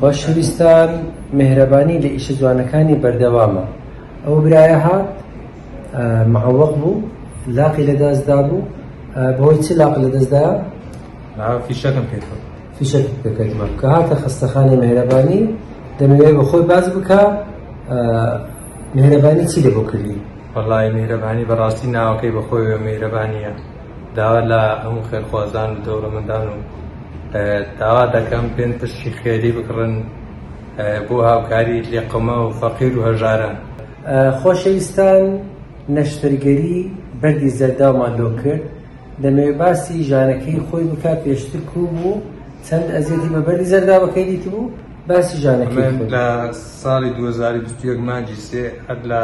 خۆشەویستان مێهرەبانی لە ئیشە جوانەکانی بەردەوامە ئەو برایە هات معوەق بوو لاقی لە دەستدا بوو بەهۆی چ لاق لە دەستدا فیشەکەم پێ فیشەک پێکردمە کە هاتە خستەخانەی مێهرەبانی دەمەوێ بە خۆی باز بکە مێهرەبانی چی لە بۆ کردی وەڵی مێهرەبانی بەڕاستی ناوەکەی بەخۆی مێهرەبانیە داوا لە هەموو خێرخوازان و دەوڵەمەندان و داوا دەکەم بێن پشتی خێری بکڕن بۆ هاوکاری لێقەما و فەقیر و هەژاران. خۆشەویستان نەشتەرگەری بەردی زەرداومان لۆ کرد دەمەوێت باسی ژانەکەی خۆی بکات پێشتر کوو بوو چەند ئەزیەتی بە بەردی زەرداوەکەی دیتبوو؟ باسی ژانەکەی خۆی. من لە ساڵی دوو هەزار و بیست و یەک مانگی سێ هەر لە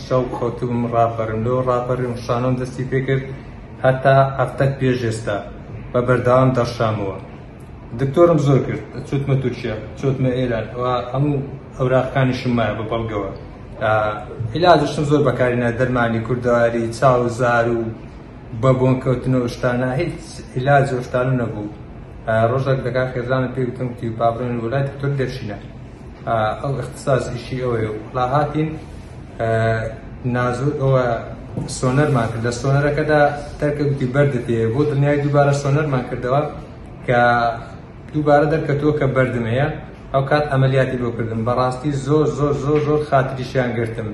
شەو خەوتبووم ڕاپەرم، لەوە ڕاپەریم شانۆم دەستی پێ کرد هەتا هەفتەک پێش ئێستا بە بەردەوام دەڕشامەوە. دکتۆرم زۆر کرد، چوتمە تورکیا، چوتمە ئێران و هەموو ئەوراقەکانیشم مایە بە بەڵگەوە. ئیلاجیشم زۆر بەکاری نایە، دەرمانی کوردەواری، چاو و زار و. بە بۆن کەوتن و شتانە هیچ ئیلاج و شتانە نەبوو ڕۆژێک دەکا خێزانە پێ وتم کی پابرێن وڵات تر دەرشینە ئەو اختصاص ئیشی ئەوەیە و لا هاتین نازو ئەوە سۆنەرمان کردە سۆنەرەکەدا تەرکەوتی بەردت بۆ دنیای دووبارە سۆنەرمان کردەوە کە دووبارە دەرکەتووە کە بەردم هەیە ئەوکات ئەمەلیاتی بۆ کردم بەڕاستی زۆر زۆر زۆر زۆر خاتریشیان گرتم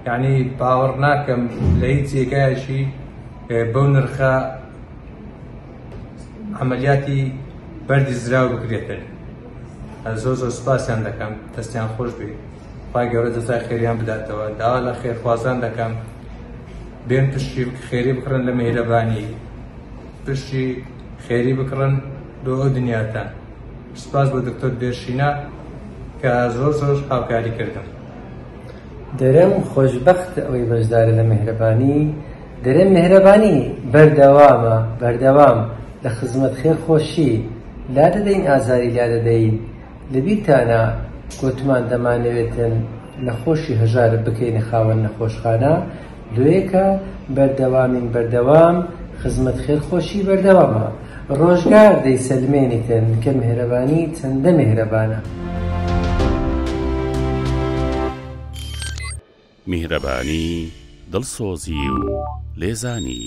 یعنی باوەڕ ناکەم لە هیچ جێگایەکی بەو نرخە عملیاتی بەردی زراو بکرێتن زۆر زۆر سپاسیان دەکەم دەستیان خۆش بێت پای گەورە جەزای خێریان بداتەوە داوا لە خێرخوازان دەکەم بێن پشتی خێری بکڕن لە مهرەبانی پشتی خێری بکڕن بۆ ئەو دنیاتان سپاس بۆ دکتۆر بێرشینا کە زۆر زۆر هاوکاری کردم دەرم خۆشببخت ئەوەی بەشدارە لە مهرەبانی دەرێن مهرەبانی بەردەوامە بەردەوام لە خزمەت خێر خۆشی لا دەدەین ئازاری لا دەدەین لەبیرتانە گوتمان دەمانەوێتن نەخۆشی هەژارە بکەینە خاوەن نەخۆشخانە لۆیەکە بەردەوامین بەردەوام خزمەت خێر خۆشی بەردەوامە ڕۆژگار دەیسەلمێنیتن کە مێهرەبانی چەندە مێهرەبانە. میهرەبانی، دڵسۆزی و لێزانی.